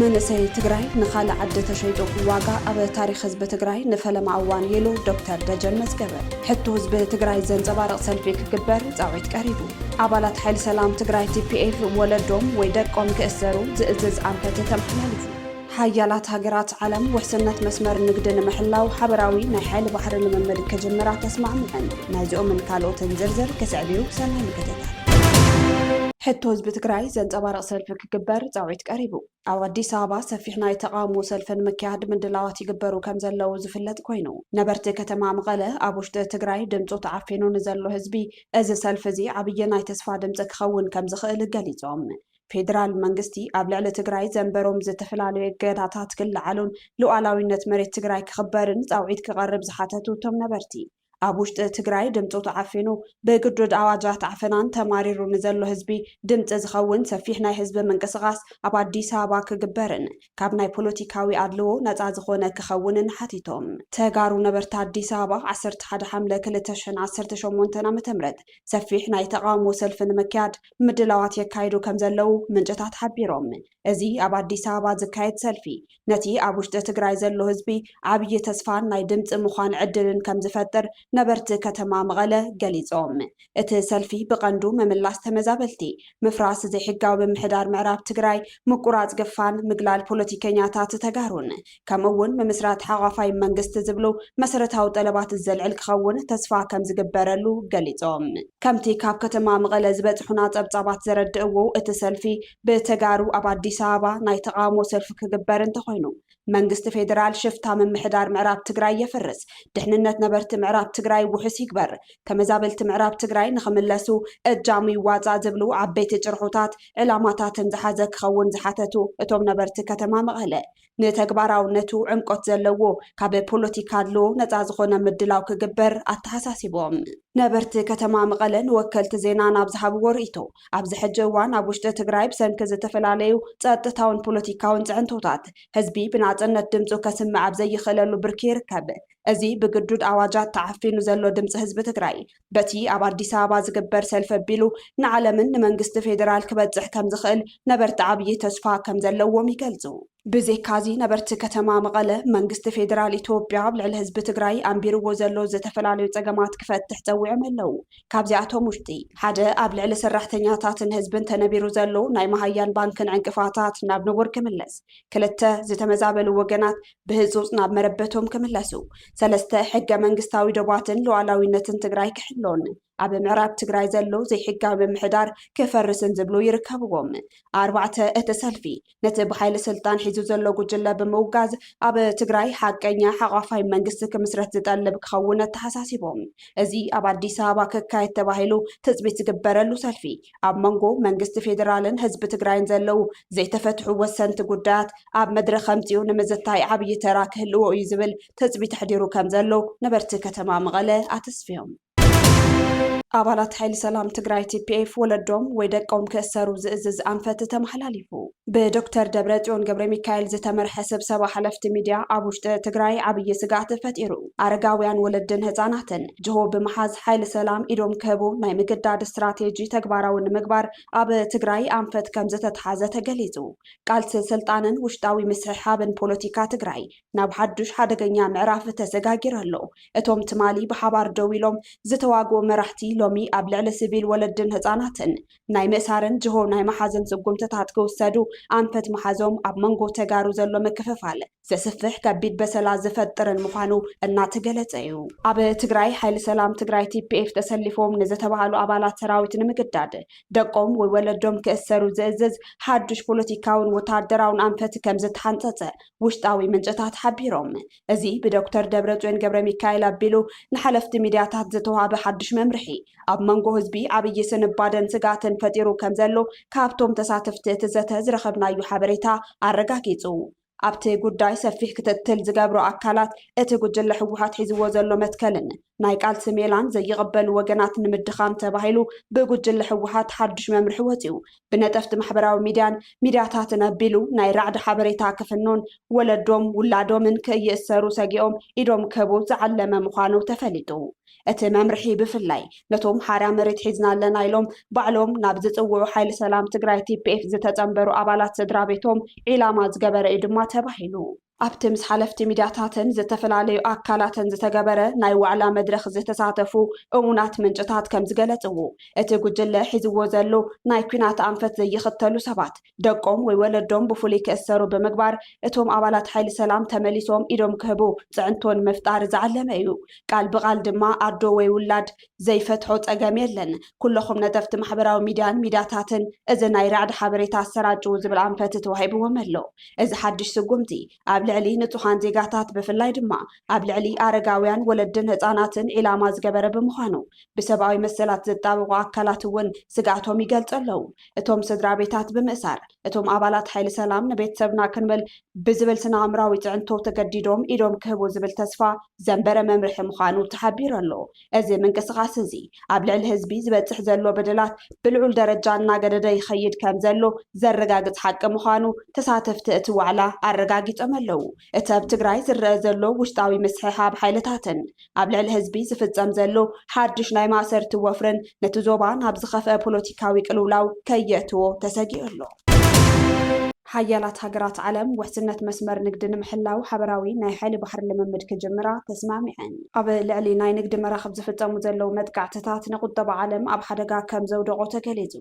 መንእሰይ ትግራይ ንኻልእ ዓዲ ተሸይጡ ዋጋ ኣብ ታሪኽ ህዝቢ ትግራይ ንፈለማ እዋን ኢሉ ዶክተር ደጀን መዝገበ። ሕቶ ህዝቢ ትግራይ ዘንፀባርቕ ሰልፊ ክግበር ፃዊዕት ቀሪቡ። ኣባላት ሓይሊ ሰላም ትግራይ ቲፒኤፍ ወለዶም ወይ ደቆም ክእሰሩ ዝእዝዝ ኣንፈት ተመሓላሊፉ። ሓያላት ሃገራት ዓለም ውሕስነት መስመር ንግዲ ንምሕላው ሓበራዊ ናይ ሓይሊ ባሕሪ ልምምድ ክጅምራ ተስማዕምዐን። ናይዚኦምን ካልኦትን ዝርዝር ክስዕብ እዩ። ሰናይ ምክትታል። ሕቶ ህዝቢ ትግራይ ዘንፀባርቕ ሰልፊ ክግበር ፃውዒት ቀሪቡ። ኣብ ኣዲስ ኣበባ ሰፊሕ ናይ ተቓውሞ ሰልፊ ንምክያድ ምድላዋት ይግበሩ ከምዘለዉ ዝፍለጥ ኮይኑ፣ ነበርቲ ከተማ መቐለ ኣብ ውሽጢ ትግራይ ድምፁ ተዓፊኑ ንዘሎ ህዝቢ እዚ ሰልፊ እዚ ዓብዪ ናይ ተስፋ ድምፂ ክኸውን ከምዝኽእል ገሊፆም። ፌዴራል መንግስቲ ኣብ ልዕሊ ትግራይ ዘንበሮም ዝተፈላለዩ እገዳታት ክለዓሉን ሉኣላዊነት መሬት ትግራይ ክኽበርን ፃውዒት ክቐርብ ዝሓተቱ እቶም ነበርቲ፣ ኣብ ውሽጢ ትግራይ ድምፁ ተዓፊኑ ብግዱድ ኣዋጃት ዓፈናን ተማሪሩ ንዘሎ ህዝቢ ድምፂ ዝኸውን ሰፊሕ ናይ ህዝቢ ምንቅስቓስ ኣብ ኣዲስ ኣበባ ክግበርን ካብ ናይ ፖለቲካዊ ኣድልዎ ነፃ ዝኾነ ክኸውንን ሓቲቶም። ተጋሩ ነበርቲ ኣዲስ ኣበባ ዓሰርተ ሓደ ሓምለ ክልተ ሽሕን ዓሰርተ ሸሞንተን ዓ ም ሰፊሕ ናይ ተቓውሞ ሰልፊ ንምክያድ ምድላዋት የካይዱ ከምዘለዉ ምንጭታት ሓቢሮም። እዚ ኣብ ኣዲስ ኣበባ ዝካየድ ሰልፊ ነቲ ኣብ ውሽጢ ትግራይ ዘሎ ህዝቢ ዓብዪ ተስፋን ናይ ድምፂ ምዃን ዕድልን ከምዝፈጥር ነበርቲ ከተማ መቐለ ገሊፆም። እቲ ሰልፊ ብቐንዱ ምምላስ ተመዛበልቲ፣ ምፍራስ ዘይሕጋዊ ምምሕዳር ምዕራብ ትግራይ፣ ምቁራፅ ግፋን ምግላል ፖለቲከኛታት ተጋሩን ከምኡ እውን ምምስራት ሓቋፋይ መንግስቲ ዝብሉ መሰረታዊ ጠለባት ዘልዕል ክኸውን ተስፋ ከምዝግበረሉ ገሊፆም። ከምቲ ካብ ከተማ መቐለ ዝበፅሑና ፀብፃባት ዘረድእዎ እቲ ሰልፊ ብተጋሩ ኣብ ኣዲስ ኣበባ ናይ ተቓውሞ ሰልፊ ክግበር እንተኾይኑ መንግስቲ ፌደራል ሽፍታ ምምሕዳር ምዕራብ ትግራይ የፍርስ፣ ድሕንነት ነበርቲ ምዕራብ ትግራይ ውሑስ ይግበር፣ ተመዛበልቲ ምዕራብ ትግራይ ንኽምለሱ እጃሙ ይዋፃእ ዝብሉ ዓበይቲ ጭርሖታት ዕላማታትን ዝሓዘ ክኸውን ዝሓተቱ እቶም ነበርቲ ከተማ መቐለ ንተግባራውነቱ ዕምቆት ዘለዎ ካብ ፖለቲካ ኣድልዎ ነፃ ዝኾነ ምድላው ክግበር ኣተሓሳሲቦም። ነበርቲ ከተማ መቐለ ንወከልቲ ዜና ናብ ዝሃብዎ ርኢቶ፣ ኣብዚ ሕጂ እዋን ኣብ ውሽጢ ትግራይ ብሰንኪ ዝተፈላለዩ ፀጥታውን ፖለቲካውን ፅዕንቶታት ህዝቢ ብናፅነት ድምፁ ከስምዕ ኣብ ዘይኽእለሉ ብርኪ ይርከብ። እዚ ብግዱድ ኣዋጃት ተዓፊኑ ዘሎ ድምፂ ህዝቢ ትግራይ በቲ ኣብ ኣዲስ ኣበባ ዝግበር ሰልፊ ኣቢሉ ንዓለምን ንመንግስቲ ፌዴራል ክበፅሕ ከምዝኽእል ነበርቲ ዓብዪ ተስፋ ከምዘለዎም ይገልፁ። ብዜካ'ዚ ነበርቲ ከተማ መቐለ መንግስቲ ፌዴራል ኢትዮጵያ ኣብ ልዕሊ ህዝቢ ትግራይ ኣንቢርዎ ዘሎ ዝተፈላለዩ ፀገማት ክፈትሕ ፀዊዖም ኣለው። ካብዚኣቶም ውሽጢ ሓደ ኣብ ልዕሊ ሰራሕተኛታትን ህዝብን ተነቢሩ ዘሎ ናይ መሃያን ባንክን ዕንቅፋታት ናብ ንቡር ክምለስ፣ ክልተ ዝተመዛበሉ ወገናት ብህፁፅ ናብ መረበቶም ክምለሱ፣ ሰለስተ ሕገ መንግስታዊ ዶባትን ሉኣላዊነትን ትግራይ ክሕሎን ኣብ ምዕራብ ትግራይ ዘሎ ዘይሕጋዊ ምምሕዳር ክፈርስን ዝብሉ ይርከብዎም። ኣርባዕተ እቲ ሰልፊ ነቲ ብሓይሊ ስልጣን ሒዙ ዘሎ ጉጅለ ብምውጋዝ ኣብ ትግራይ ሓቀኛ ሓቋፋይ መንግስቲ ክምስረት ዝጠልብ ክኸውን ኣተሓሳሲቦም። እዚ ኣብ ኣዲስ ኣበባ ክካየድ ተባሂሉ ትፅቢት ዝግበረሉ ሰልፊ ኣብ መንጎ መንግስቲ ፌዴራልን ህዝቢ ትግራይን ዘለው ዘይተፈትሑ ወሰንቲ ጉዳያት ኣብ መድረኽ ኣምፂኡ ንምዝታይ ዓብዪ ተራ ክህልዎ እዩ ዝብል ትፅቢት ኣሕዲሩ ከም ዘሎ ነበርቲ ከተማ መቐለ ኣተስፊዮም። ኣባላት ሓይሊ ሰላም ትግራይ ቲፒኤፍ ወለዶም ወይ ደቆም ክእሰሩ ዝእዝዝ ኣንፈት ተመሓላሊፉ። ብዶክተር ደብረፅዮን ገብረሚካኤል ዝተመርሐ ስብሰባ ሓለፍቲ ሚድያ ኣብ ውሽጢ ትግራይ ዓብዪ ስግኣት ፈጢሩ። ኣረጋውያን፣ ወለድን ህፃናትን ጅሆ ብምሓዝ ሓይሊ ሰላም ኢዶም ክህቡ ናይ ምግዳድ ስትራቴጂ ተግባራዊ ንምግባር ኣብ ትግራይ ኣንፈት ከምዝተትሓዘ ተገሊፁ። ቃልሲ ስልጣንን ውሽጣዊ ምስሕሓብን ፖለቲካ ትግራይ ናብ ሓዱሽ ሓደገኛ ምዕራፍ ተሰጋጊሩ ኣሎ። እቶም ትማሊ ብሓባር ደው ኢሎም ዝተዋግኡ መራሕቲ ሎሚ ኣብ ልዕሊ ስቪል ወለድን ህፃናትን ናይ ምእሳርን ጅሆ ናይ ምሓዝን ስጉምትታት ክውሰዱ ኣንፈት ምሓዞም ኣብ መንጎ ተጋሩ ዘሎ ምክፍፋል ዘስፍሕ ከቢድ በሰላ ዝፈጥርን ምዃኑ እናተገለፀ እዩ። ኣብ ትግራይ ሓይሊ ሰላም ትግራይ፣ TPF፣ ተሰሊፎም ንዝተብሃሉ ኣባላት ሰራዊት ንምግዳድ ደቆም ወይ ወለዶም ክእሰሩ ዝእዝዝ ሓዱሽ ፖለቲካውን ወታደራውን ኣንፈት ከምዝተሓንፀፀ ውሽጣዊ ምንጭታት ሓቢሮም። እዚ ብዶክተር ደብረፅዮን ገብረሚካኤል ኣቢሉ ንሓለፍቲ ሚድያታት ዝተውሃበ ሓዱሽ መምርሒ ኣብ መንጎ ህዝቢ ዓብዪ ስንባደን ስግኣትን ፈጢሩ ከምዘሎ ካብቶም ተሳተፍቲ እቲ ዘተ ዝረኸብናዩ ሓበሬታ ኣረጋጊፁ። ኣብቲ ጉዳይ ሰፊሕ ክትትል ዝገብሩ ኣካላት እቲ ጉጅለ ህወሓት ሒዝዎ ዘሎ መትከልን ናይ ቃልሲ ሜላን ዘይቕበሉ ወገናት ንምድኻም ተባሂሉ ብጉጅለ ህወሓት ሓዱሽ መምርሒ ወፂኡ ብነጠፍቲ ማሕበራዊ ሚድያን ሚድያታትን ኣቢሉ ናይ ራዕዲ ሓበሬታ ክፍኑን ወለዶም ውላዶምን ክይእሰሩ ሰጊኦም ኢዶም ክህቡ ዝዓለመ ምዃኑ ተፈሊጡ። እቲ መምርሒ ብፍላይ ነቶም ሓራ መሬት ሒዝና ኣለና ኢሎም ባዕሎም ናብ ዝፅውዑ ሓይሊ ሰላም ትግራይ፣ ቲፒኤፍ፣ ዝተፀምበሩ ኣባላት ስድራቤቶም ዒላማ ዝገበረ እዩ ድማ ተባሂሉ። ኣብቲ ምስ ሓለፍቲ ሚድያታትን ዝተፈላለዩ ኣካላትን ዝተገበረ ናይ ዋዕላ መድረኽ ዝተሳተፉ እሙናት ምንጭታት ከምዝገለፅዎ፣ እቲ ጉጅለ ሒዝዎ ዘሎ ናይ ኲናት ኣንፈት ዘይኽተሉ ሰባት ደቆም ወይ ወለዶም ብፍሉይ ክእሰሩ ብምግባር እቶም ኣባላት ሓይሊ ሰላም ተመሊሶም ኢዶም ክህቡ ፅዕንቶ ንምፍጣር ዝዓለመ እዩ። ቃል ብቓል ድማ ኣዶ ወይ ውላድ ዘይፈትሖ ፀገም የለን። ኩለኹም ነጠፍቲ ማሕበራዊ ሚድያን ሚድያታትን እዚ ናይ ራዕዲ ሓበሬታ ኣሰራጭዉ ዝብል ኣንፈት ተዋሂብዎም ኣሎ። እዚ ሓድሽ ስጉምቲ ኣብ ልዕሊ ንፁሃን ዜጋታት ብፍላይ ድማ ኣብ ልዕሊ ኣረጋውያን፣ ወለድን ህፃናትን ዒላማ ዝገበረ ብምዃኑ ብሰብኣዊ መሰላት ዝጣበቑ ኣካላት እውን ስግኣቶም ይገልፁ ኣለዉ። እቶም ስድራቤታት ብምእሳር እቶም ኣባላት ሓይሊ ሰላም ንቤተሰብና ክንብል ብዝብል ስነኣእምራዊ ፅዕንቶ ተገዲዶም ኢዶም ክህቡ ዝብል ተስፋ ዘንበረ መምርሒ ምዃኑ ተሓቢሩ ኣሎ። እዚ ምንቅስቓስ እዚ ኣብ ልዕሊ ህዝቢ ዝበፅሕ ዘሎ በደላት ብልዑል ደረጃ እናገደደ ይኸይድ ከምዘሎ ዘረጋግፅ ሓቂ ምዃኑ ተሳተፍቲ እቲ ዋዕላ ኣረጋጊፆም ኣለው። እቲ ኣብ ትግራይ ዝረኣ ዘሎ ውሽጣዊ ምስሕሓብ ሓይልታትን ኣብ ልዕሊ ህዝቢ ዝፍፀም ዘሎ ሓዱሽ ናይ ማእሰርቲ ወፍርን ነቲ ዞባ ናብ ዝኸፍአ ፖለቲካዊ ቅልውላው ከየእትዎ ተሰጊኡ ኣሎ። ሓያላት ሃገራት ዓለም ውሕስነት መስመር ንግዲ ንምሕላው ሓበራዊ ናይ ሓይሊ ባሕሪ ልምምድ ክጅምራ ተስማዕሚዐን። ኣብ ልዕሊ ናይ ንግዲ መራኽብ ዝፍጸሙ ዘለዉ መጥቃዕትታት ንቁጠባ ዓለም ኣብ ሓደጋ ከም ዘውደቖ ተገሊጹ።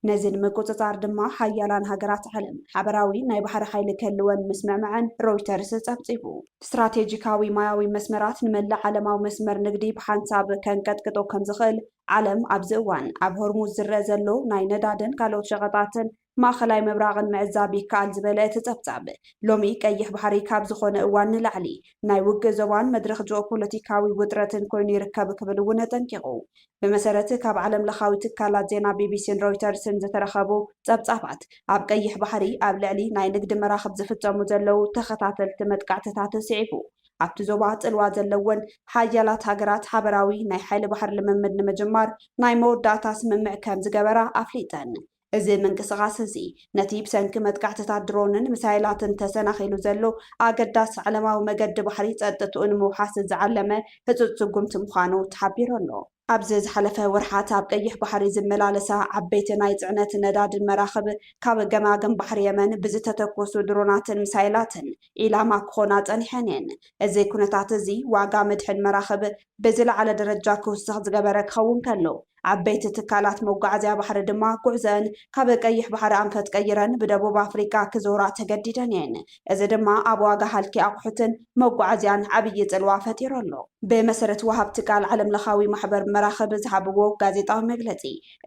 ነዚ ንምቁጽጻር ድማ ሓያላን ሃገራት ዓለም ሓበራዊ ናይ ባሕሪ ሓይሊ ክህልወን ምስምዕመዐን ሮይተርስ ጸብጺቡ። ስትራቴጂካዊ ማያዊ መስመራት ንመላእ ዓለማዊ መስመር ንግዲ ብሓንሳብ ከንቀጥቅጦ ከም ዝኽእል ዓለም ኣብዚ እዋን ኣብ ሆርሙዝ ዝረኣ ዘሎ ናይ ነዳድን ካልኦት ሸቐጣትን ማእኸላይ ምብራቕን ምዕዛብ ይከኣል ዝበለ እቲ ፀብፃብ፣ ሎሚ ቀይሕ ባሕሪ ካብ ዝኾነ እዋን ንላዕሊ ናይ ውግእ ዞባን መድረኽ ጂኦፖለቲካዊ ውጥረትን ኮይኑ ይርከብ ክብል እውን ኣጠንቂቑ። ብመሰረት ካብ ዓለም ለኻዊ ትካላት ዜና ቢቢሲን ሮይተርስን ዝተረኸቡ ፀብፃባት፣ ኣብ ቀይሕ ባሕሪ ኣብ ልዕሊ ናይ ንግዲ መራኽብ ዝፍፀሙ ዘለዉ ተኸታተልቲ መጥቃዕትታት ስዒቡ፣ ኣብቲ ዞባ ጽልዋ ዘለወን ሓያላት ሃገራት ሓበራዊ ናይ ሓይሊ ባሕሪ ልምምድ ንምጅማር ናይ መወዳእታ ስምምዕ ከም ዝገበራ ኣፍሊጠን። እዚ ምንቅስቓስ እዚ፣ ነቲ ብሰንኪ መጥቃዕትታት ድሮንን ሚሳይላትን ተሰናኺሉ ዘሎ ኣገዳሲ ዓለማዊ መገዲ ባሕሪ ጸጥትኡ ንምውሓስ ዝዓለመ ህጹጽ ስጉምቲ ምዃኑ ተሓቢሩ ኣሎ። ኣብዚ ዝሓለፈ ወርሓት ኣብ ቀይሕ ባሕሪ ዝመላለሳ ዓበይቲ ናይ ጽዕነት ነዳድን መራኽብ ካብ ገማግም ባሕሪ የመን ብዝተተኮሱ ድሮናትን ሚሳይላትን ዒላማ ክኾና ጸኒሐን እየን። እዚ ኩነታት እዚ ዋጋ ምድሕን መራኽብ ብዝለዓለ ደረጃ ክውስኽ ዝገበረ ክኸውን ከሎ፣ ዓበይቲ ትካላት መጓዓዝያ ባሕሪ ድማ ጉዕዘኣን ካብ ቀይሕ ባሕሪ ኣንፈት ቀይረን ብደቡብ ኣፍሪቃ ክዞራ ተገዲደን እየን። እዚ ድማ ኣብ ዋጋ ሃልኪ ኣቑሑትን መጓዓዝያን ዓብዪ ፅልዋ ፈጢሩ ኣሎ ብመሰረት ወሃብቲ ቃል ዓለም ለኻዊ ማሕበር መራኽብ ዝሃብዎ ጋዜጣዊ መግለፂ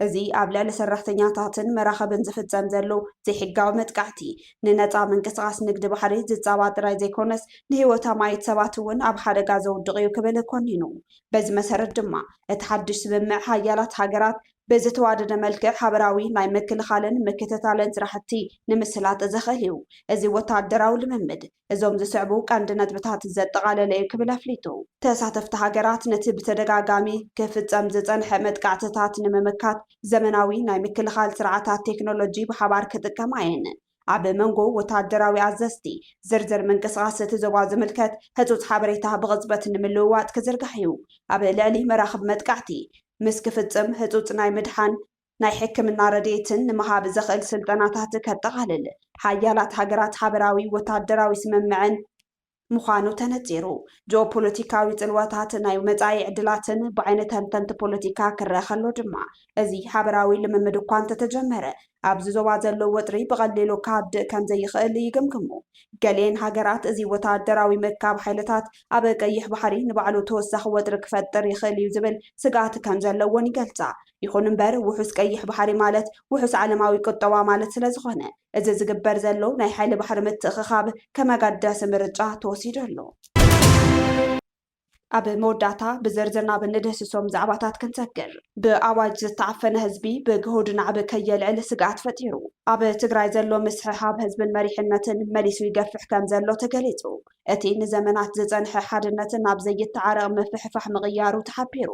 እዚ ኣብ ልዕሊ ሰራሕተኛታትን መራኽብን ዝፍፀም ዘሎ ዘይሕጋዊ መጥቃዕቲ ንነፃ ምንቅስቓስ ንግዲ ባሕሪ ዝፃባእ ጥራይ ዘይኮነስ ንህይወት ኣማኢት ሰባት እውን ኣብ ሓደጋ ዘውድቕ እዩ ክብል ኮኒኑ። በዚ መሰረት ድማ እቲ ሓድሽ ስምምዕ ሓያላት ሃገራት ብዝተዋደደ መልክዕ ሓበራዊ ናይ ምክልኻልን ምክትታልን ስራሕቲ ንምስላጥ ዘኽእል እዩ። እዚ ወታደራዊ ልምምድ፣ እዞም ዝስዕቡ ቀንዲ ነጥብታት ዘጠቓለለ እዩ ክብል ኣፍሊጡ። ተሳተፍቲ ሃገራት ነቲ ብተደጋጋሚ ክፍጸም ዝጸንሐ መጥቃዕትታት ንምምካት ዘመናዊ ናይ ምክልኻል ስርዓታት ቴክኖሎጂ ብሓባር ክጥቀማ እየን። ኣብ መንጎ ወተሃደራዊ ኣዘዝቲ፣ ዝርዝር ምንቅስቓስ እቲ ዞባ ዝምልከት ህጹጽ ሓበሬታ ብቕጽበት ንምልውዋጥ ክዝርጋሕ እዩ። ኣብ ልዕሊ መራኽብ መጥቃዕቲ ምስ ክፍጽም ህጹጽ ናይ ምድሓን ናይ ሕክምና ረድኤትን ንምሃብ ዘኽእል ስልጠናታት ከጠቓልል ሓያላት ሃገራት ሓበራዊ ወታደራዊ ስምምዕን ምዃኑ ተነጺሩ። ጂኦፖለቲካዊ ጽልዋታት ናይ መጻኢ ዕድላትን ብዓይኒ ተንተንቲ ፖለቲካ ክረኣ ከሎ ድማ እዚ ሓበራዊ ልምምድ እኳ እንተተጀመረ ኣብዚ ዞባ ዘሎ ወጥሪ ብቐሊሉ ክሃድእ ከም ዘይኽእል ይግምግሙ። ገሊኤን ሃገራት እዚ ወታደራዊ ምእካብ ሓይልታት ኣብ ቀይሕ ባሕሪ ንባዕሉ ተወሳኺ ወጥሪ ክፈጥር ይኽእል እዩ ዝብል ስግኣት ከም ዘለወን ይገልጻ። ይኹን እምበር ውሑስ ቀይሕ ባሕሪ ማለት ውሑስ ዓለማዊ ቁጠባ ማለት ስለዝኾነ እዚ ዝግበር ዘሎ ናይ ሓይሊ ባሕሪ ምትእኽኻብ ከም ኣጋዳሲ ምርጫ ተወሲዱ ኣሎ። ኣብ መወዳእታ ብዝርዝር ናብ እንድህስሶም ዛዕባታት ክንሰግር። ብኣዋጅ ዝተዓፈነ ህዝቢ ብግሁድ ናዕቢ ከየልዕል ስግኣት ፈጢሩ። ኣብ ትግራይ ዘሎ ምስሕሓብ ህዝብን መሪሕነትን መሊሱ ይገፍሕ ከም ዘሎ ተገሊፁ። እቲ ንዘመናት ዝፀንሐ ሓድነት ናብ ዘይተዓረቕ ምፍሕፋሕ ምቕያሩ ተሓቢሩ።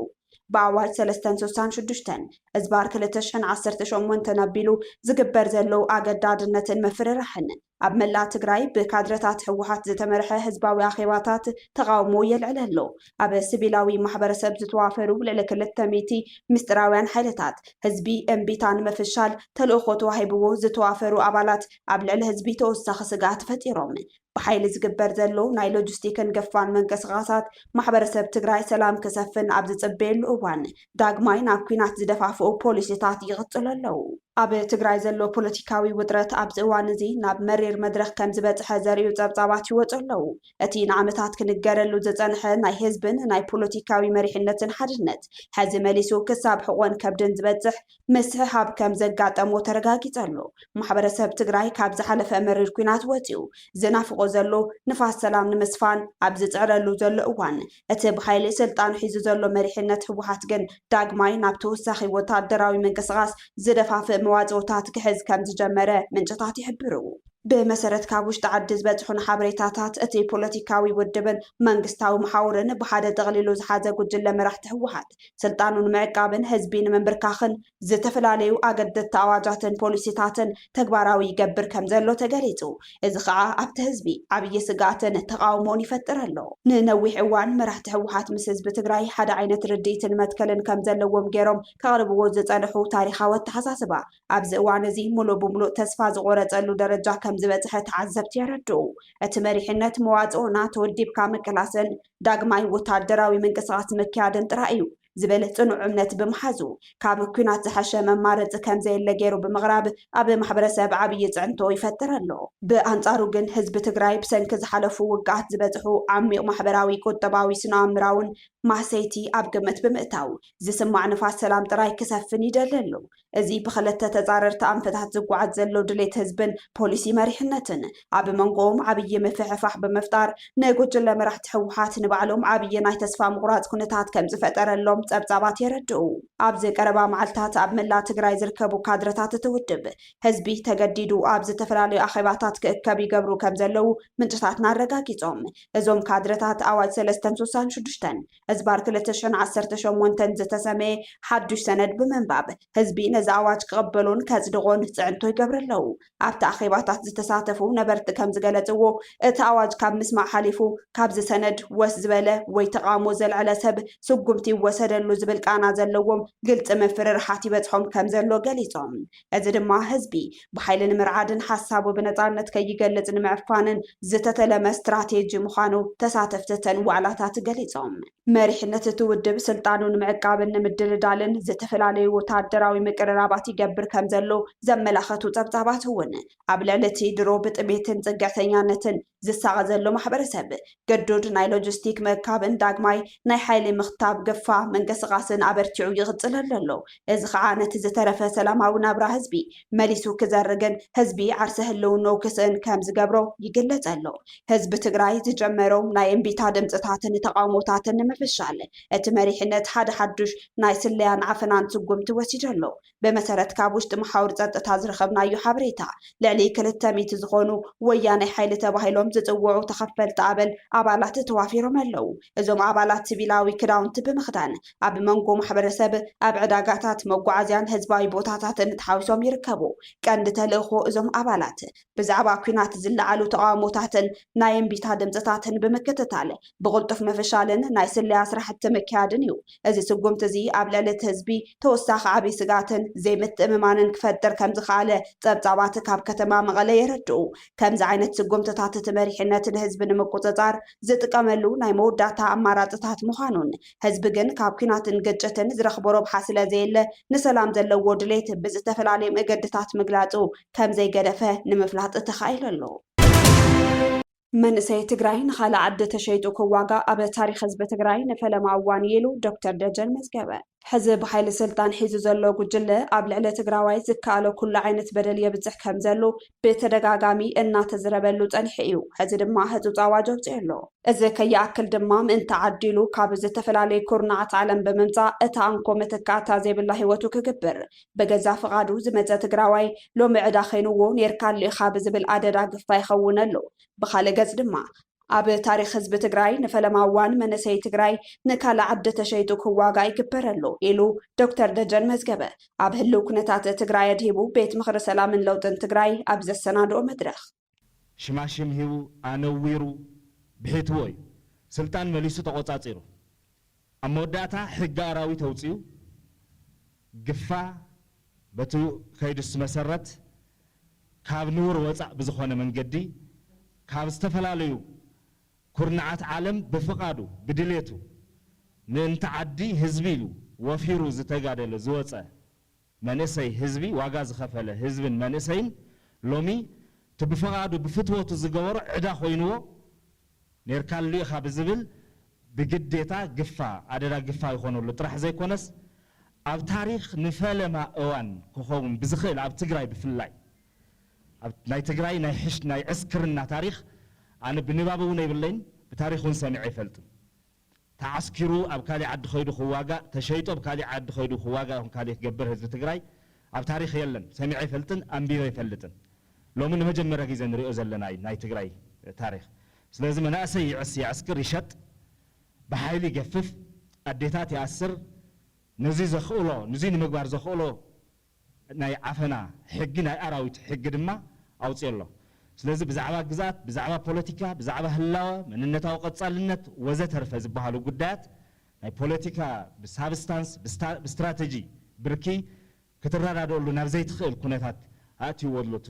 ብኣዋጅ ሰለስተን ስሳን ሽዱሽተን እዝባር ክልተ ሽሕን ዓሰርተ ሸሞንተን ኣቢሉ ዝግበር ዘሎ ኣገዳድነትን ምፍርራሕን ኣብ መላእ ትግራይ ብካድረታት ህወሓት ዝተመርሐ ህዝባዊ ኣኼባታት ተቓውሞ የልዕል ኣሎ። ኣብ ስቪላዊ ማሕበረሰብ ዝተዋፈሩ ልዕሊ ክልተ ሚእቲ ምስጢራውያን ሓይልታት ህዝቢ እምቢታ ንምፍሻል ተልእኾ ተዋሂብዎ ዝተዋፈሩ ኣባላት ኣብ ልዕሊ ህዝቢ ተወሳኺ ስግኣት ፈጢሮም ብሓይሊ ዝግበር ዘሎ ናይ ሎጂስቲክን ገፋን ምንቅስቓሳት ማሕበረሰብ ትግራይ ሰላም ክሰፍን ኣብ ዝፅበየሉ እዋን ዳግማይ ናብ ኲናት ዝደፋፍኡ ፖሊሲታት ይቕፅሉ ኣለው። ኣብ ትግራይ ዘሎ ፖለቲካዊ ውጥረት ኣብዚ እዋን እዚ ናብ መሪር መድረኽ ከምዝበፅሐ ዘርእዩ ፀብፃባት ይወፁ ኣለው። እቲ ንዓመታት ክንገረሉ ዝፀንሐ ናይ ህዝብን ናይ ፖለቲካዊ መሪሕነትን ሓድነት ሕዚ መሊሱ ክሳብ ሕቖን ከብድን ዝበፅሕ ምስሕሓብ ከምዘጋጠሞ ተረጋጊፀ ኣሎ። ማሕበረሰብ ትግራይ ካብ ዝሓለፈ መሪር ኲናት ወፂኡ ዝናፍቖ ዘሎ ንፋስ ሰላም ንምስፋን ኣብ ዝፅዕረሉ ዘሎ እዋን እቲ ብሓይሊ ስልጣኑ ሒዙ ዘሎ መሪሕነት ህወሓት ግን ዳግማይ ናብ ተወሳኺ ወታደራዊ ምንቅስቓስ ዝደፋፍእ መዋፅኦታት ክሕዝ ከምዝጀመረ ምንጭታት ይሕብሩ። ብመሰረት ካብ ውሽጢ ዓዲ ዝበፅሑና ሓበሬታታት እቲ ፖለቲካዊ ውድብን መንግስታዊ መሓውርን ብሓደ ጠቕሊሉ ዝሓዘ ጉጅለ መራሕቲ ህወሓት፣ ስልጣኑ ንምዕቃብን ህዝቢ ንምንብርካኽን ዝተፈላለዩ ኣገደድቲ ኣዋጃትን ፖሊሲታትን ተግባራዊ ይገብር ከም ዘሎ ተገሊፁ። እዚ ከዓ ኣብቲ ህዝቢ ዓብዪ ስግኣትን ተቓውሞን ይፈጥር ኣሎ። ንነዊሕ እዋን መራሕቲ ህወሓት ምስ ህዝቢ ትግራይ ሓደ ዓይነት ርድኢትን መትከልን ከም ዘለዎም ገይሮም ከቕርብዎ ዝፀንሑ ታሪኻዊ ኣተሓሳስባ ኣብዚ እዋን እዚ ሙሉእ ብሙሉእ ተስፋ ዝቖረፀሉ ደረጃ ከም ዝበፅሐ ተዓዘብቲ የረድኡ። እቲ መሪሕነት መዋፅኦና ተወዲብካ ምቅላስን ዳግማይ ወታደራዊ ምንቅስቓስ ምክያድን ጥራይ እዩ ዝብል ጽኑዕ እምነት ብምሓዙ፣ ካብ ኲናት ዝሐሸ መማረጺ ከም ዘየለ ገይሩ ብምቕራብ ኣብ ማሕበረሰብ ዓብዪ ፅዕንቶ ይፈጥር ኣሎ። ብኣንጻሩ ግን ህዝቢ ትግራይ ብሰንኪ ዝሓለፉ ውግኣት ዝበፅሑ ዓሚቕ ማሕበራዊ፣ ቁጠባዊ፣ ስነኣእምራውን ማህሰይቲ ኣብ ግምት ብምእታው፣ ዝስማዕ ንፋስ ሰላም ጥራይ ክሰፍን ይደሊ ኣሎ። እዚ ብኸለተ ተጻረርቲ ኣንፈታት ዝጓዓዝ ዘሎ ድሌት ህዝብን ፖሊሲ መሪሕነትን፣ ኣብ መንጎኦም ዓብዪ ምፍሕፋሕ ብምፍጣር፣ ንጉጅለ መራሕቲ ህወሓት ንባዕሎም ዓብዪ ናይ ተስፋ ምቑራጽ ኩነታት ከምዝፈጠረሎም ጸብጻባት የረድኡ። ኣብዚ ቀረባ መዓልታት ኣብ መላእ ትግራይ ዝርከቡ ካድረታት እቲ ውድብ፣ ህዝቢ ተገዲዱ ኣብ ዝተፈላለዩ ኣኼባታት ክእከብ ይገብሩ ከምዘለዉ ምንጭታትና ኣረጋጊጾም። እዞም ካድረታት ኣዋጅ ሰለስተን ስሳን ሽዱሽተን፣ ሕዝባር ክልተ ሽሕን ዓሰርተ ሸሞንተን ዝተሰመየ ሓዱሽ ሰነድ ብምንባብ ህዝቢ ነዚ ኣዋጅ ክቕበሎን ከጽድቖን ጽዕንቶ ይገብሩ ኣለዉ። ኣብቲ ኣኼባታት ዝተሳተፉ ነበርቲ ከም ዝገለጽዎ፣ እቲ ኣዋጅ ካብ ምስማዕ ሓሊፉ ካብዚ ሰነድ ወስ ዝበለ ወይ ተቓውሞ ዘልዐለ ሰብ ስጉምቲ ይወሰደሉ ዝብል ቃና ዘለዎም ግልጺ ምፍርርሓት ይበጽሖም ከም ዘሎ ገሊጾም። እዚ ድማ ህዝቢ ብሓይሊ ንምርዓድን ሓሳቡ ብነፃነት ከይገልፅ ንምዕፋንን ዝተተለመ ስትራቴጂ ምዃኑ ተሳተፍቲ እተን ዋዕላታት ገሊፆም። መሪሕነት እቲ ውድብ ስልጣኑ ንምዕቃብን ንምድልዳልን ዝተፈላለዩ ወታደራዊ ምቅርራባት ይገብር ከምዘሎ ዘመላኸቱ ፀብፃባት እውን ኣብ ልዕሊ እቲ ድሮ ብጥሜትን ፅግዕተኛነትን ዝሳቐ ዘሎ ማሕበረሰብ ገዱድ ናይ ሎጂስቲክ ምእካብን ዳግማይ ናይ ሓይሊ ምኽታብ ግፋ ምንቅስቓስን ኣበርቲዑ ይቕፅለሉ ኣሎ። እዚ ከዓ ነቲ ዝተረፈ ሰላማዊ ናብራ ህዝቢ መሊሱ ክዘርግን ህዝቢ ዓርሰ ህልውንኡ ክስእን ከምዝገብሮ ይግለፅ ኣሎ። ህዝቢ ትግራይ ዝጀመሮም ናይ እምቢታ ድምፅታትን ተቓውሞታትን ንምፍሻል እቲ መሪሕነት ሓደ ሓዱሽ ናይ ስለያን ዓፈናን ስጉምቲ ወሲዱ ኣሎ። ብመሰረት ካብ ውሽጢ መሓውር ፀጥታ ዝረኸብናዮ ሓበሬታ ልዕሊ ክልተ ሚእቲ ዝኾኑ ወያናይ ሓይሊ ተባሂሎም ዝፅውዑ ተኸፈልቲ ኣበል ኣባላት ተዋፊሮም ኣለው። እዞም ኣባላት ስቪላዊ ክዳውንቲ ብምኽዳን ኣብ መንጎ ማሕበረሰብ፣ ኣብ ዕዳጋታት፣ መጓዓዝያን ህዝባዊ ቦታታትን ተሓዊሶም ይርከቡ። ቀንዲ ተልእኾ እዞም ኣባላት ብዛዕባ ኲናት ዝለዓሉ ተቓውሞታትን ናይ እምቢታ ድምጽታትን ብምክትታል ብቕልጡፍ ምፍሻልን ናይ ስለያ ስራሕቲ ምክያድን እዩ። እዚ ስጉምቲ'ዚ ኣብ ልዕሊ እቲ ህዝቢ ተወሳኺ ዓብይ ስግኣትን ዘይምትእምማንን ክፈጥር ከምዝኸኣለ ጸብጻባት ካብ ከተማ መቐለ የረድኡ። ከምዚ ዓይነት ስጉምቲታት እቲ መሪሕነት ንህዝቢ ንምቁጽጻር ዝጥቀመሉ ናይ መወዳእታ ኣማራጺታት ምዃኑን ህዝቢ ግን ካብ ኲናትን ግጭትን ዝረኽቦ ረብሓ ስለዘየለ ንሰላም ዘለዎ ድሌት ብዝተፈላለየ መገዲታት ምግላጹ ከምዘይገደፈ ንምፍላጥ ተኻኢሉ ኣሎ። መንእሰይ ትግራይ ንኻልእ ዓዲ ተሸይጡ ክዋጋእ ኣብ ታሪክ ህዝቢ ትግራይ ንፈለማ እዋን እዩ ኢሉ ዶክተር ደጀን መዝገበ። ሕዚ ብሓይሊ ስልጣን ሒዙ ዘሎ ጉጅለ ኣብ ልዕሊ ትግራዋይ ዝከኣሎ ኩሉ ዓይነት በደል የብፅሕ ከምዘሉ ብተደጋጋሚ እናተዝረበሉ ፀኒሑ እዩ። ሕዚ ድማ ህፁፅ ኣዋጅ ኣውፂኡ ኣሎ። እዚ ከይኣክል ድማ ምእንቲ ዓዲ ኢሉ ካብ ዝተፈላለዩ ኩርናዓት ዓለም ብምምፃእ እታ እንኮ መተካእታ ዘይብላ ህይወቱ ክግብር ብገዛ ፍቓዱ ዝመጸ ትግራዋይ ሎሚ ዕዳ ኼንዎ ኔርካ ኣሎ ኢኻ ብዝብል ኣደዳ ግፋ ይኸውን ኣሎ። ብኻልእ ገጽ ድማ ኣብ ታሪኽ ህዝቢ ትግራይ ንፈለማ እዋን መንእሰይ ትግራይ ንካልእ ዓዲ ተሸይጡ ክዋጋእ ይግበር ኣሎ ኢሉ ዶክተር ደጀን መዝገበ ኣብ ህልው ኩነታት ትግራይ ኣድሂቡ ቤት ምኽሪ ሰላምን ለውጥን ትግራይ ኣብ ዘሰናድኦ መድረኽ ሽማሽም ሂቡ ኣነዊሩ ብሒትዎ እዩ ስልጣን መሊሱ ተቖፃፂሩ። ኣብ መወዳእታ ሕጊ ኣራዊት ኣውፂኡ ግፋ በቲ ከይዱስ መሰረት ካብ ንቡር ወፃእ ብዝኾነ መንገዲ ካብ ዝተፈላለዩ ኩርናዓት ዓለም ብፍቓዱ ብድሌቱ ምእንቲ ዓዲ ህዝቢ ኢሉ ወፊሩ ዝተጋደለ ዝወፀ መንእሰይ ህዝቢ ዋጋ ዝኸፈለ ህዝብን መንእሰይን ሎሚ እቲ ብፈቓዱ ብፍትወቱ ዝገበሮ ዕዳ ኮይንዎ ኔርካሉ ኢኻ ብዝብል ብግዴታ ግፋ ኣደዳ ግፋ ይኾነሉ ጥራሕ ዘይኮነስ ኣብ ታሪኽ ንፈለማ እዋን ክኸውን ብዝኽእል ኣብ ትግራይ ብፍላይ ኣብ ናይ ትግራይ ናይ ዕስክርና ታሪኽ ኣነ ብንባብ እውን የብለይን ብታሪኽ እውን ሰሚዐ ኣይፈልጥን። ተዓስኪሩ ኣብ ካሊእ ዓዲ ከይዱ ክዋጋእ ተሸይጡ ኣብ ካሊእ ዓዲ ከይዱ ክዋጋእ ይኹን ካሊእ ክገብር ህዝቢ ትግራይ ኣብ ታሪኽ የለን ሰሚዐ ኣይፈልጥን ኣንቢበ ኣይፈልጥን ሎሚ ንመጀመርያ ጊዘ ንሪኦ ዘለና እዩ ናይ ትግራይ ታሪኽ ስለዚ መናእሰይ ይዕስ የዕስክር ይሸጥ ብሓይሊ ይገፍፍ ኣዴታት ይኣስር ነዙይ ዘኽእሎ ንዙይ ንምግባር ዘኽእሎ ናይ ዓፈና ሕጊ ናይ ኣራዊት ሕጊ ድማ ኣውጺኦ ኣሎ። ስለዚ ብዛዕባ ግዝኣት፣ ብዛዕባ ፖለቲካ፣ ብዛዕባ ህላወ፣ መንነታዊ ቀጻልነት ወዘተርፈ ዝበሃሉ ጉዳያት ናይ ፖለቲካ ብሳብስታንስ ብስትራተጂ ብርኪ ክትረዳደኣሉ ናብ ዘይትኽእል ኩነታት ኣእትይዎ ኣሎ እቲ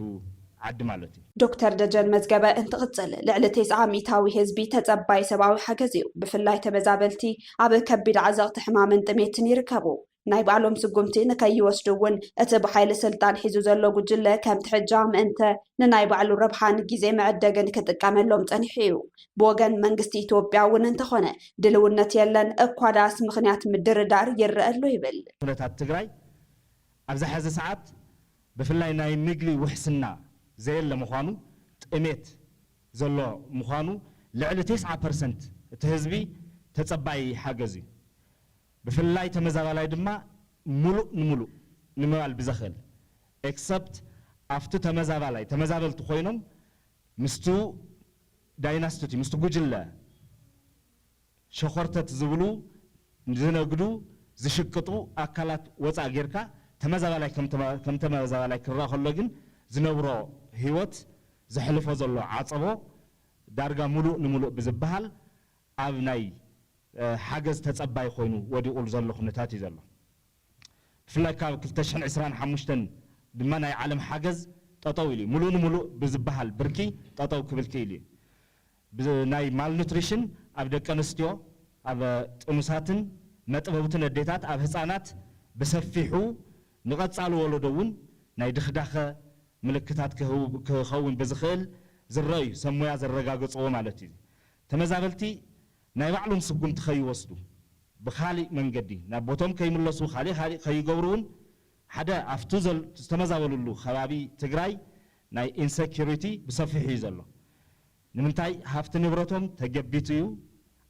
ዓዲ ማለት እዩ። ዶክተር ደጀን መዝገበ እንትቕጽል፣ ልዕሊ ቴስዓ ሚእታዊ ህዝቢ ተጸባዪ ሰብኣዊ ሓገዝ እዩ። ብፍላይ ተመዛበልቲ ኣብ ከቢድ ዓዘቕቲ ሕማምን ጥሜትን ይርከቡ። ናይ ባዕሎም ስጉምቲ ንከይወስዱ እውን እቲ ብሓይሊ ስልጣን ሒዙ ዘሎ ጉጅለ ከምቲ ሕጃ ምእንተ ንናይ ባዕሉ ረብሓን ግዜ መዕደግን ክጥቀመሎም ፀኒሑ እዩ። ብወገን መንግስቲ ኢትዮጵያ እውን እንተኾነ ድልውነት የለን፣ እኳ ደኣስ ምኽንያት ምድርዳር ይረኣ ኣሎ ይብል። ኩነታት ትግራይ ኣብዚ ሐዚ ሰዓት ብፍላይ ናይ ምግቢ ውሕስና ዘየለ ምዃኑ፣ ጥሜት ዘሎ ምዃኑ፣ ልዕሊ ቴስዓ ፐርሰንት እቲ ህዝቢ ተፀባዪ ሓገዝ እዩ። ብፍላይ ተመዛባላይ ድማ ሙሉእ ንሙሉእ ንምባል ብዘኽእል except ኣብቲ ተመዛባላይ ተመዛበልቲ ኮይኖም ምስቱ ዳይናስትቲ ምስቲ ጉጅለ ሸኾርተት ዝብሉ ዝነግዱ ዝሽቅጡ ኣካላት ወፃእ ጌርካ ተመዛባላይ ከም ተመዛባላይ ክረኣ ከሎ ግን ዝነብሮ ህይወት ዘሕልፎ ዘሎ ዓፀቦ ዳርጋ ሙሉእ ንሙሉእ ብዝበሃል ኣብ ናይ ሓገዝ ተጸባይ ኮይኑ ወዲቑሉ ዘሎ ኩነታት እዩ ዘሎ። ብፍላይ ካብ ክልተ ሽሕን ዕስራን ሓሙሽተን ድማ ናይ ዓለም ሓገዝ ጠጠው ኢሉ እዩ። ምሉእ ንምሉእ ብዝበሃል ብርኪ ጠጠው ክብል ክኢሉ እዩ። ብናይ ማልኑትሪሽን ኣብ ደቀንስትዮ፣ ኣብ ጥኑሳትን መጥበውትን ኣዴታት፣ ኣብ ህጻናት ብሰፊሑ ንቐጻሊ ወለዶ እውን ናይ ድኽዳኸ ምልክታት ክኸውን ብዝኽእል ዝረኣዩ ሰብ ሞያ ዘረጋገጽዎ ማለት እዩ። ተመዛበልቲ ናይ ባዕሎም ስጉምቲ ከይወስዱ፣ ብኻሊእ መንገዲ ናብ ቦቶም ከይምለሱ ኻሊእ ኻሊእ ከይገብሩ ውን ሓደ ኣፍቱ ዝተመዛበልሉ ኸባቢ ትግራይ ናይ ኢንሰኪሪቲ ብሰፊሑ ዩ ዘሎ። ንምንታይ ሃፍቲ ንብረቶም ተገቢቱ ዩ፣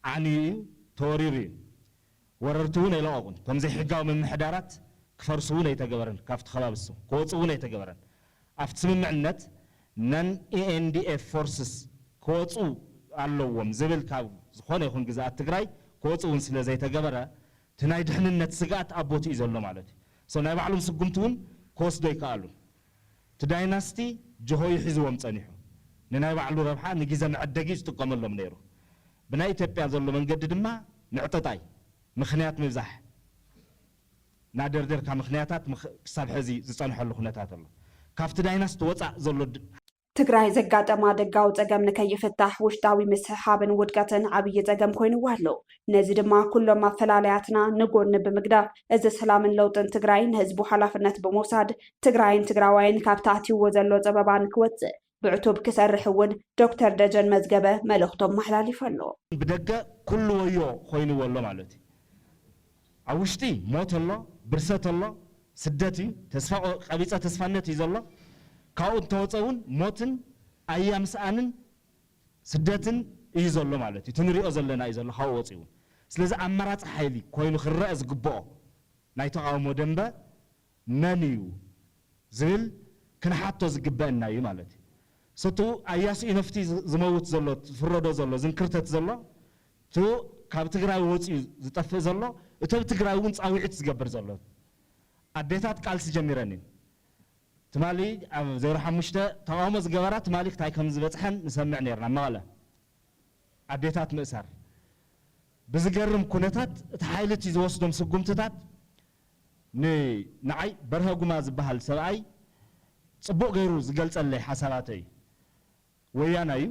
ዓንዩ ዩ፣ ተወሪሩ ዩ። ወረርቲ እውን ኣይለቐቑን። እቶም ዘይሕጋዊ ምምሕዳራት ክፈርሱ እውን ኣይተገበረን፣ ካብቲ ከባቢ ንሶም ክወፁ እውን ኣይተገበረን። ኣብቲ ስምምዕነት ነን-ENDF ፎርስስ ክወፁ ኣለዎም ዝብል ካብ ዝኾነ ይኹን ግዝኣት ትግራይ ክወፁ እውን ስለ ዘይተገበረ እቲ ናይ ድሕንነት ስግኣት ኣብ ቦትኡ እዩ ዘሎ ማለት እዩ። So ናይ ባዕሎም ስጉምቲ እውን ክወስዱ ኣይከኣሉን። እቲ ዳይናስቲ ጅሆ እዩ ሒዝዎም ፀኒሑ። ንናይ ባዕሉ ረብሓ ንጊዘ መዐደጊ እዩ ዝጥቀመሎም ነይሩ። ብናይ ኢትዮጵያ ዘሎ መንገዲ ድማ ምዕጠጣይ ምኽንያት ምብዛሕ ናደርደርካ ምኽንያታት ክሳብ ሐዚ ዝፀንሐሉ ኩነታት ኣሎ ካብቲ ዳይናስቲ ወፃእ ዘሎ ትግራይ ዘጋጠማ ደጋዊ ፀገም ንከይፍታሕ ውሽጣዊ ምስሕሓብን ውድቀትን ዓብዪ ፀገም ኮይንዋ ኣሎ። ነዚ ድማ ኩሎም ኣፈላላያትና ንጎኒ ብምግዳፍ እዚ ሰላምን ለውጥን ትግራይ ንህዝቡ ሓላፍነት ብምውሳድ ትግራይን ትግራዋይን ካብቲ ኣትይዎ ዘሎ ፀበባ ንክወፅእ ብዕቱብ ክሰርሕ እውን ዶክተር ደጀን መዝገበ መልእኽቶም ኣመሓላሊፉ ኣሎ። ብደገ ኩሉ ወዮ ኮይንዎ ኣሎ ማለት እዩ። ኣብ ውሽጢ ሞት ኣሎ፣ ብርሰት ኣሎ፣ ስደት እዩ፣ ተስፋ ቀቢፀ ተስፋነት እዩ ዘሎ። ካብኡ እንተወፀ እውን ሞትን ኣያ ምስኣንን ስደትን እዩ ዘሎ ማለት እዩ። እቲ ንሪኦ ዘለና እዩ ዘሎ ካብኡ ወፂኡ እውን። ስለዚ ኣማራፂ ሓይሊ ኮይኑ ክረኣ ዝግበኦ ናይ ተቓውሞ ደንበ መን እዩ ዝብል ክንሓቶ ዝግበእና እዩ ማለት እዩ። ስቱ ኣያሱ ኢነፍቲ ዝመውት ዘሎ ዝፍረዶ ዘሎ ዝንክርተት ዘሎ ቱ ካብ ትግራይ ወፅዩ ዝጠፍእ ዘሎ እቱ ኣብ ትግራይ እውን ፃዊዒት ዝገብር ዘሎ ኣዴታት ቃልሲ ጀሚረን እዩን ትማሊ ኣብ ዜሮ ሓሙሽተ ተቃውሞ ዝገበራ ትማሊ ክታይ ከምዝበፅሐን ንሰምዕ ነይርና መቐለ ኣዴታት ምእሳር ብዝገርም ኩነታት እቲ ሓይሊ እቲ ዝወስዶም ስጉምትታት ን ንዓይ በርሀ ጉማ ዝባሃል ሰብኣይ ጽቡቅ ገይሩ ዝገልጸለይ ሓሳባተይ ወያናይ እዩ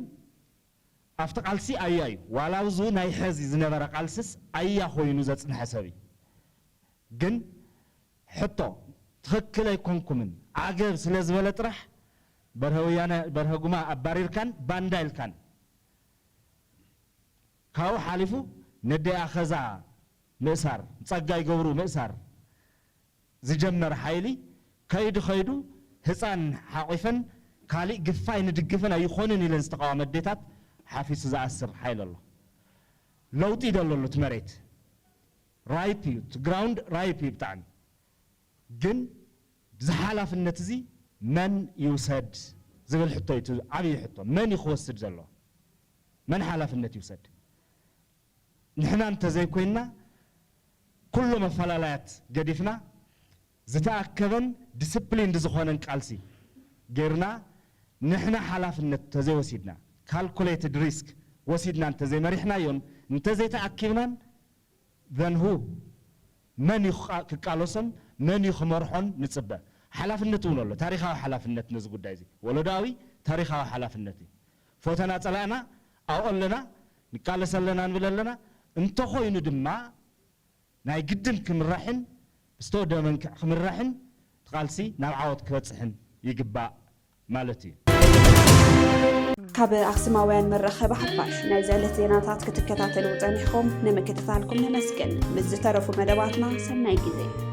ኣብቲ ቃልሲ ኣያ እዩ ዋላ ኣብዙ ናይ ሐዚ ዝነበረ ቃልስስ ኣያ ኮይኑ ዘጽንሐ ሰብ እዩ ግን ሕቶ ትክክል ኣይኮንኩምን ዓገብ ስለ ዝበለ ጥራሕ በርሀ ወያነ በርሀ ጉማ ኣባሪርካን ባንዳ ኢልካን ካብኡ ሓሊፉ ነደይ ኣኸዛ ምእሳር ጸጋይ ገብሩ ምእሳር ዝጀመረ ሓይሊ ከይዱ ከይዱ ህጻን ሓቚፈን ካሊእ ግፋ ኣይንድግፍን ኣይኾንን ኢለን ዝተቓወመ ኣዴታት ሓፊሱ ዝኣስር ሓይሊ ኣሎ። ለውጢ ይደሊ ኣሎ እቲ መሬት ራይፕ እዩ እቲ ግራውንድ ራይፕ እዩ ብጣዕሚ ግን እዚ ሓላፍነት እዚ መን ይውሰድ ዝብል ሕቶ እዩ እቲ ዓብይ ሕቶ መን እዩ ክወስድ ዘለዎ መን ሓላፍነት ይውሰድ ንሕና እንተዘይኮይንና ኩሎም ኣፈላላያት ገዲፍና ዝተኣከበን ዲስፕሊንድ ዝኾነን ቃልሲ ገይርና ንሕና ሓላፍነት እንተዘይወሲድና ካልኩሌትድ ሪስክ ወሲድና እንተዘይመሪሕናዮን እንተዘይተኣኪብናን then who መን እዩ ክቃለሶን መን እዩ ክመርሖን ንፅበ? ሓላፍነት እውን ኣሎ ታሪኻዊ ሓላፍነት ነዚ ጉዳይ እዚ ወለዶኣዊ ታሪኻዊ ሓላፍነት እዩ ፎተና ፀላእና ኣብኡ ኣለና ንቃለስ ኣለና ንብል ኣለና እንተኾይኑ ድማ ናይ ግድን ክምራሕን ብዝተወደበ መንክዕ ክምራሕን እቲ ቃልሲ ናብ ዓወት ክበጽሕን ይግባእ ማለት እዩ። ካብ ኣኽስማውያን መራኸቢ ሓፋሽ ናይዚ ዕለት ዜናታት ክትከታተሉ ጸኒሕኹም ንምክትታልኩም ነመስግን። ምስ ዝተረፉ መደባትና ሰናይ ግዜ።